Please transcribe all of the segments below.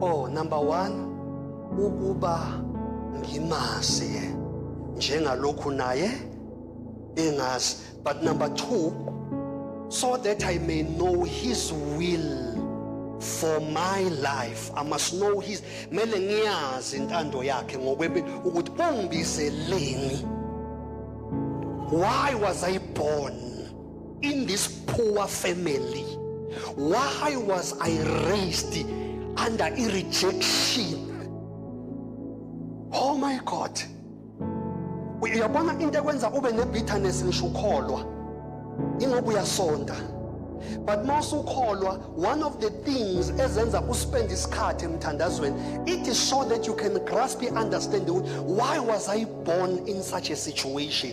Oh number 1 ukuba ngimazi yena njengalokhu naye engazi but number 2 so that I may know his will for my life I must know his mele ngiyazi intando yakhe ngokwempilo ukuthi ungibizeleni why was I born in this poor family why was i raised under a rejection oh my god uyabona into ekwenza ube ne-bitterness ngisho ukholwa ingoba uyasonda but uma usukholwa one of the things ezenza uspend isikhathi emthandazweni it is so that you can grasp understand why was i born in such a situation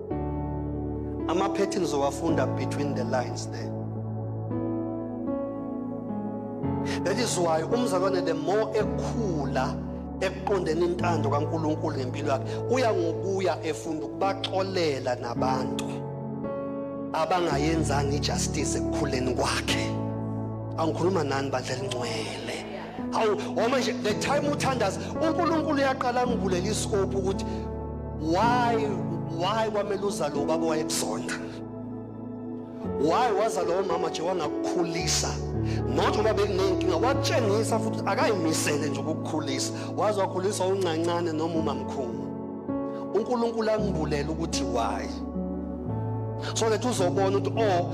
Ama-patterns owafunda between the lines there. That is why umzalwane the more ekhula ekuqondeni intando kaNkuluNkulu ngempilo yakhe uya ngokuya efunda ukubaxolela nabantu abangayenzanga ijustice ekukhuleni kwakhe angikhuluma nani bandla elingcwele hawu woma nje the time uthandaza uNkulunkulu uyaqala ngivulele iscope ukuthi why why kwamele uzalo ubaba wayekuzonda why waza lowo mama nje wangakukhulisa not ngoba bekunenkinga wakutshengisa futhi akayimisele nje ukukukhulisa waze wakhulisa uncancane noma umamkhulu uNkulunkulu angibulele ukuthi why so that uzobona ukuthi oh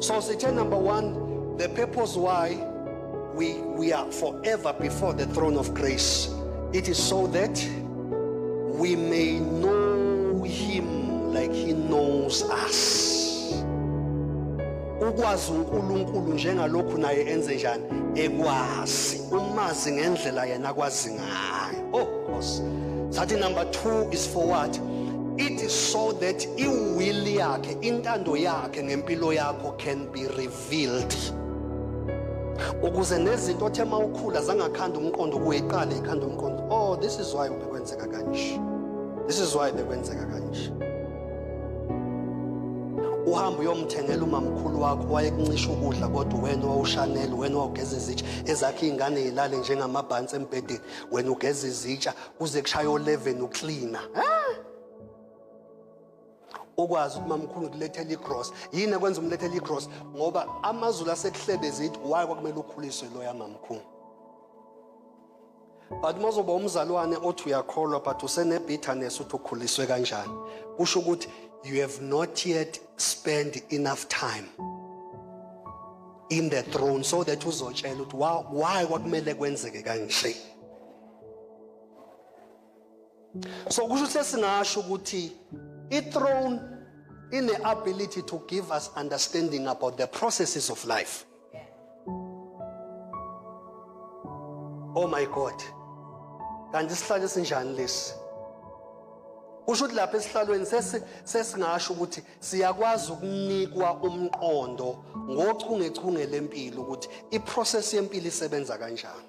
So sithe number one, the purpose why we, we are forever before the throne of grace. It is so that we may know him like he knows us. Ukwazi uNkulunkulu njengalokhu naye enze njani ekwazi umazi ngendlela yena kwazi hayi oh nkosi sathi number 2 is for what it is so that iwill yakhe intando yakhe ngempilo yakho can be revealed ukuze nezinto othe uma ukhula zangakhanda umqondo kuye iqale ikhanda umqondo oh this is why bekwenzeka kanje this is why bekwenzeka kanje uhambe uyomthengela umamkhulu wakho wayekuncisha ukudla kodwa wena wawushanela wena wawugeza izitsha ezakhe iy'ngane yilale njengamabhansi embhedeni wena ugeza izitsha kuze kushaya o-leven uklina ukwazi ukuthi mamkhulu kulethela igross yini ekwenza umlethela igross ngoba amazulu asekuhlebezithu waye kwakumele ukhuliswe loya mamkhulu but uma uzoba umzalwane othi uyakholwa but usenebitterness uthi ukhuliswe kanjani kusho ukuthi you have not yet spent enough time in the throne so that uzotshela ukuthi why kwakumele kwenzeke kanje so kusho ukuthi singasho ukuthi i-throne ine-ability to give us understanding about the processes of life Oh my God. Kanti isihlalo esinjani lesi? Usho ukuthi lapha esihlalweni sesi sesingasho ukuthi siyakwazi ukunikwa umqondo ngochungechunge lempilo ukuthi iprocess yempilo isebenza kanjani.